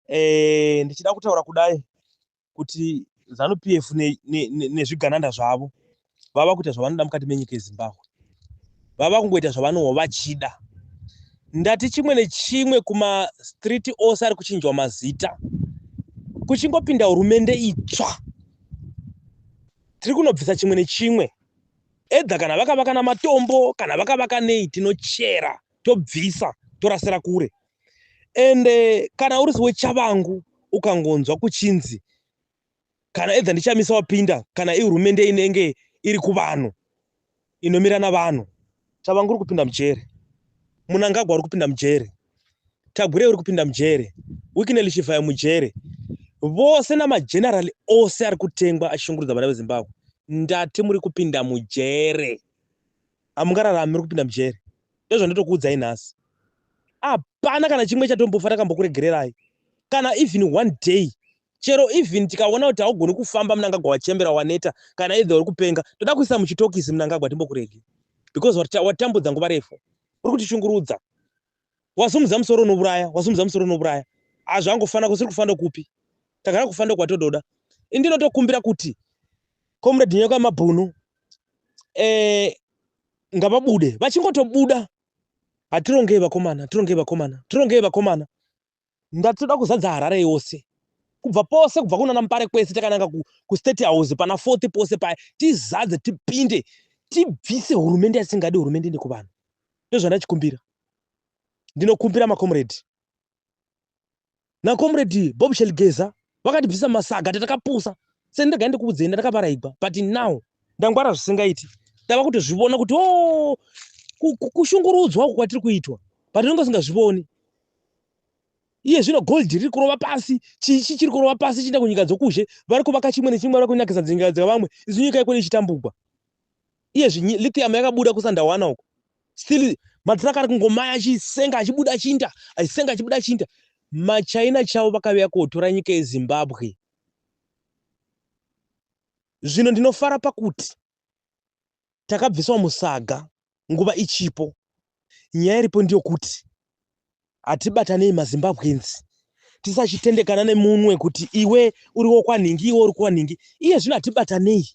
eh, ndichida kutaura kudai kuti zanu p f nezvigananda ne, ne zvavo vava kuita zvavanoda mukati menyika yezimbabwe vava kungoita zvavanowo vachida ndati chimwe nechimwe kumastreet ose ari kuchinjwa mazita kuchingopinda hurumende itsva tiri kunobvisa chimwe nechimwe edha kana vakavaka namatombo kana vakavaka nei tinochera tobvisa torasira kure and eh, kana uri wechavangu ukangonzwa kuchinzi kana edha ndichamisa wapinda kana ihurumende inenge iri kuvanhu inomira navanhu chavangu uri kupinda mujere munangagwa uri kupinda mujere tagure uri kupinda mujere wikineli chivhayo mujere vose namagenerali ose ari kutengwa achishungurudza vana vezimbabwe ndati muri kupinda mujere Hamungararami muri kupinda mujeri. Ndozvandatokuudzai nhasi. Hapana kana chimwe chatombofa takambokuregererai. Kana even one day. Chero even tikaona kuti haugoni kufamba munangagwa wachembera waneta kana either uri kupenga. Toda kuisa muchitokisi munangagwa timbokurege. Because watambudza nguva refu. Uri kutishungurudza. wasimudza musoro unouraya wasimudza musoro unouraya hazvangofana kusiri kufanda kupi takada kufanda kwatododa indinotokumbira kuti comrade nyoka mabhunu eh, ngavabude vachingotobuda hatirongei vakomana tirongei vakomana tirongei vakomana ndati toda kuzadza Harare yose kubva pose kubva kunana Mupare kwese takananga ku, ku State House pana Fort pose paya tizadze tipinde tibvise hurumende yasingadi hurumende nekuvanhu ndozvandachikumbira ndinokumbira makomredi nakomredi Bob Shelgeza vakatibvisa masaga tatakapusa seni ndega ndikuudzei ndakavaraigwa but now ndangwara zvisingaiti tava kutozvivona kuti o oh, kushungurudzwa uku kwatiri kuitwa but tinenge usingazvivoni iye zvino gold riri kurova pasi chii chii chiri kurova pasi chienda kunyika dzokuzhe vari kuvaka chimwe nechimwe vari kunakisa dzingaya dzevamwe izi nyika ikone ichitambugwa iye zvinyi lithium yakabuda kusandawana uko still matruck ari kungomaya achisenga achibuda achinda achisenga achibuda achinda machina chavo vakaviya kotora nyika yezimbabwe zvino ndinofara pakuti takabviswa musaga nguva ichipo nyaya iripo ndiyo kuti hatibatanei mazimbabwenzi tisachitendekana nemunwe kuti iwe uri wokwanhingi iwe uri kwanhingi iye zvino hatibatanei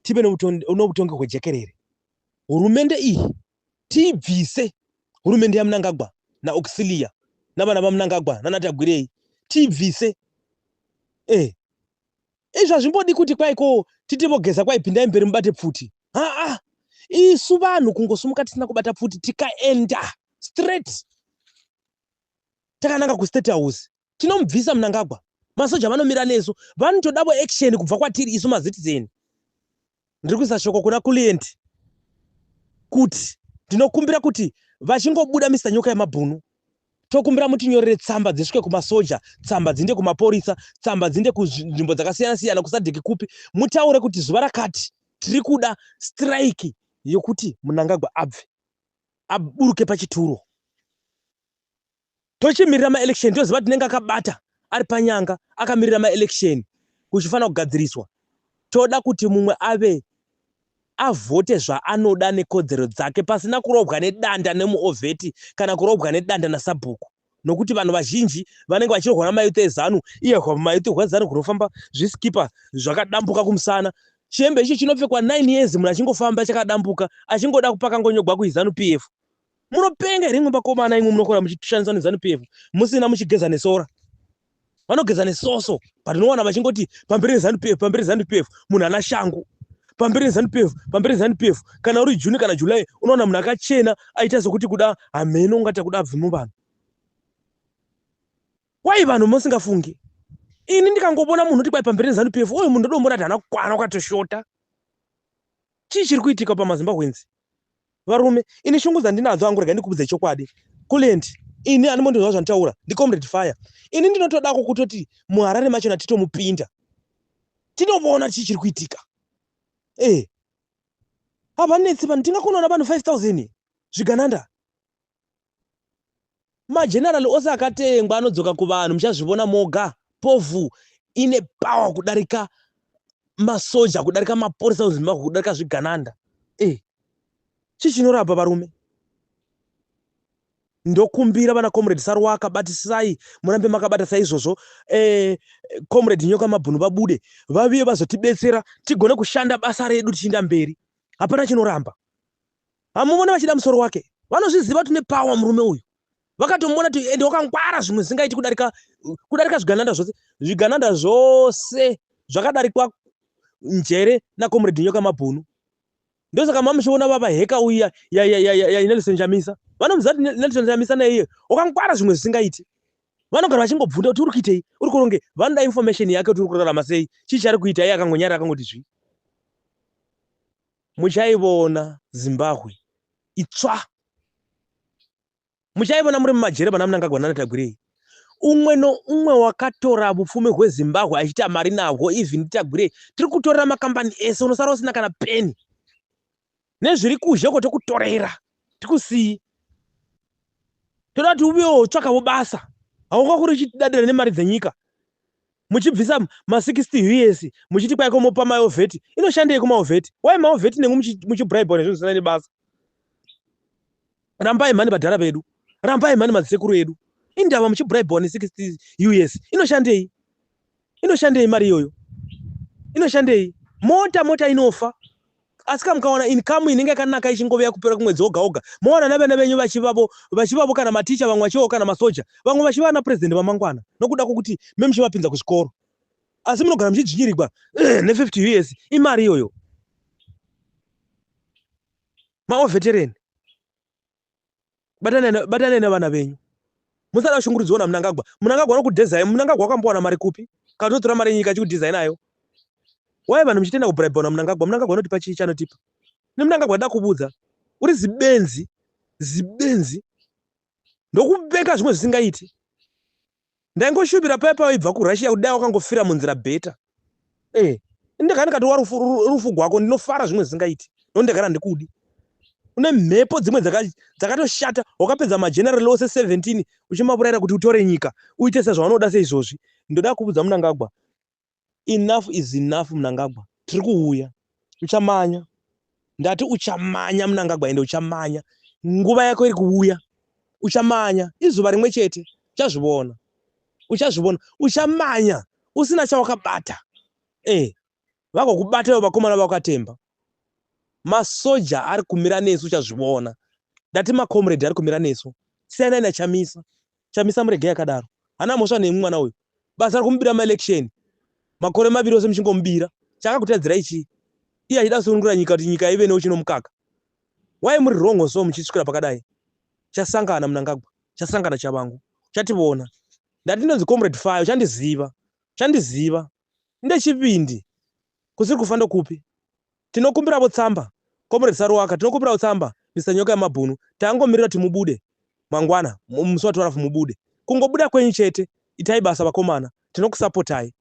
tive noutongi hwejekerere hurumende iyi tiibvise hurumende yamunangagwa naoxilia navana vamunangagwa nanatagwirei tiibvise e eh, izvi hazvimbodi kuti kwai ko titi vogeza kwai pindai mberi mubate pfuti haa isu vanhu kungosumuka tisina kubata pfuti tikaenda straight takananga kustate house tinomubvisa munangagwa masoja vanomira nesu vanotodavo action kubva kwatiri isu mazitizeni ndiri kuisa shoko kuna kuliendi kuti ndinokumbira kuti vachingobuda mr nyoka yemabhunu tokumbira mutinyorere tsamba dzisvike kumasoja tsamba dzinde kumapurisa tsamba dzinde kunzvimbo dzakasiyana siyana kusadhiki kupi mutaure kuti zuva rakati tiri kuda strike yekuti munangagwa abve aburuke pachituro tochimirira maelection toziva kuti nenge akabata ari panyanga akamirira maelection kuchifanira kugadziriswa toda kuti mumwe ave avhote zvaanoda nekodzero dzake pasina kurobwa nedanda nemuovheti kana kurobwa nedanda nasabhuku nokuti vanhu vazhinji vanenge vachirohwa namayuti ezanu iye mayuti hwezanu kunofamba zvisikipa zvakadambuka kumusana chihembe icho chinopfekwa 9 years munhu achingofamba chakadambuka achingoda kupaka ngonyogwa kuizanu p f Munopenga here imwe vakomana imwe munokora muchishandisa nezanu PF musina muchigeza nesora. Vanogeza nesoso but unowana vachingoti pamberi nezanu PF pamberi nezanu PF munhu ana shangu. Pamberi nezanu PF pamberi nezanu PF kana uri June kana July unowana munhu akachena aita sokuti kuda hameno ungati akuda abve muvanhu. Why vanhu musingafunge? Ini ndikangobona munhu kuti kwai pamberi nezanu PF uyu munhu ndodombona kuti hana kukwana kwatoshota. Chii chiri kuitika pamaZimbabweans? Varume ini shungu dzandinadzo hangu rega ndikubudze chokwadi Kulent ini animondinzwa zvantaura ndi comrade fire ini ndinotodako kutoti muharare machona titomupinda tinoona chii chiri kuitika eh havanetsi vanhu tingakunoona vanhu 5000 zvigananda Mageneral ose akatengwa anodzoka kuvanhu muchazvivona moga. Povu ine power kudarika masoja kudarika maporisa muZimbabwe kudarika zvigananda. Eh. Chii chinorapa varume? ndokumbira vana comrade saruwaka batisai murambe makabata saizvozvo eh, comrade nyoka mabhunu vabude vaviye vazotibetsera tigone kushanda basa redu tichiinda mberi hapana chinoramba Hamumone vachida musoro wake. Vanozviziva kuti une power murume uyu. Vakatomona kuti ende wakangwara zvimwe zvisingaiti kudarika kudarika zvigananda zvose. Zvigananda zvose zvakadarikwa njere na comrade Nyoka Mabhunu. Ndosaka mamuchiona baba heka uya ya ya ya ya Nelson Chamisa. Vanomuziva kuti Nelson Chamisa na iye wakangwara zvimwe zvisingaiti. Vanogara vachingobvunda kuti uri kuitei? Uri kuronge vanoda information yake kuti uri kurarama sei? Chii chari kuita iye akangonyara akangoti zvi. Muchaivona Zimbahwe itsva. Muchaivona muri mumajere pana Mnangagwa nana Tagwirei. Umwe noumwe wakatora vupfumi hweZimbahwe achiita mari nahwo even Tagwirei. Tiri kutorera makambani ese unosara usina kana peni. Nezviri kuzhe uko tokutorera. Tikusii. Toda kuti uvewo tsvakavo basa. Haunga kuri uchidadira nemari dzenyika. muchibvisa ma 60 us muchiti kwai ko mopa maovheti inoshandei kumaovheti why maovheti nengu muchibribwa nezvinhu zvisina nebasa rambai mhani vadhara vedu rambai mhani madzisekuru edu indava muchibribwa ne 60 us inoshandei inoshandei mari iyoyo inoshandei mota mota inofa asi kana mukawana income inenge yakanaka ichingove yakupera kumwedzi woga woga mowana navana venyu vachivavo vachivavo kana maticha vamwe vachivavo kana masoja vamwe vachiva ana president vamangwana nokuda kwokuti me muchivapinza kuzvikoro asi munogara muchidzvinyirigwa eh, ne50 years imari iyoyo maovetereni batanai nevana venyu musada kushungurudziwa namunangagwa munangagwa anokudhezai munangagwa akambowana mari kupi kana totora mari yenyika achikudhizai nayo wai vanhu muchitenda kubribwa namunangagwa munangagwa anotipa chii chanotipa nemunangagwa da kubudza uri zibenzi zibenzi ndokupenga zvimwe zvisingaiti Ndaingoshuvira paye pawaibva kuRussia kuti dai wakangofira munzira better. Eh, ndagara ndikati warufu rufu gwako ndinofara zvimwe zvisingaiti. No ndagara ndikudi. Une mhepo dzimwe dzakatoshata wakapedza mageneral ose 17 uchimavurayira kuti utore nyika uite sezvavanoda seizvozvi. Ndoda kuvudza Munangagwa Enough is enough Mnangagwa tiri kuuya uchamanya ndati uchamanya Mnangagwa ende uchamanya nguva yako iri kuuya uchamanya izuva rimwe chete uchazvivona uchazvivona uchamanya usina chawakabata eh vakokubata ivo vakomana vakatemba masoja ari kumira nesu uchazvivona ndati macomrade ari kumira nesu siyanai nachamisa Chamisa muregei akadaro. Hana mhosva nemwi mwana uyu. Basa rekumubira ma election makore maviri ose muchingomubira. Chakakutadzirai chii? Iye achida kusunungura nyika kuti nyika ive neuchi nomukaka. Why muri wrong so muchisvikira pakadai? Chasangana Mnangagwa, chasangana Chavangu. Uchationa. Ndati ndinonzi Comrade Fayo, uchandiziva. Uchandiziva. ndechipindi kusiri kufa ndokupi tinokumbiravo tsamba comrade saruwaka tinokumbiravo tsamba Mister nyoka yemabhunu tangomirira kuti mubude mangwana musi wa 12 mubude kungobuda kwenyu chete itai basa vakomana tinokusapotai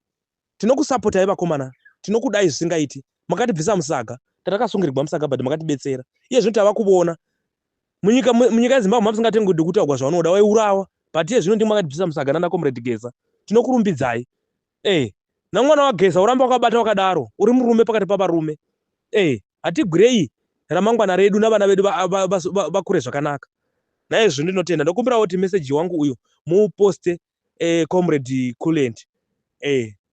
tinokusapotai vakomana tinokudai zvisingaiti makatibvisa musaga tatakasungirigwa musaga but makatibetsera iye zvino tava kuvona munyika munyika yezimbabwe mapisingatengwi dokutaugwa zvaunoda waiurawa but iye zvino ndimwe akatibvisa musaga nana comrade geza tinokurumbidzai Eeh namwana wageza uramba wakabata wakadaro uri murume pakati pavarume eeh hatigwirei ramangwana redu navana vedu vakure zvakanaka naye zvinhu ndinotenda ndokumbirawo kuti message wangu uyu muuposte eh, comrade culent eh,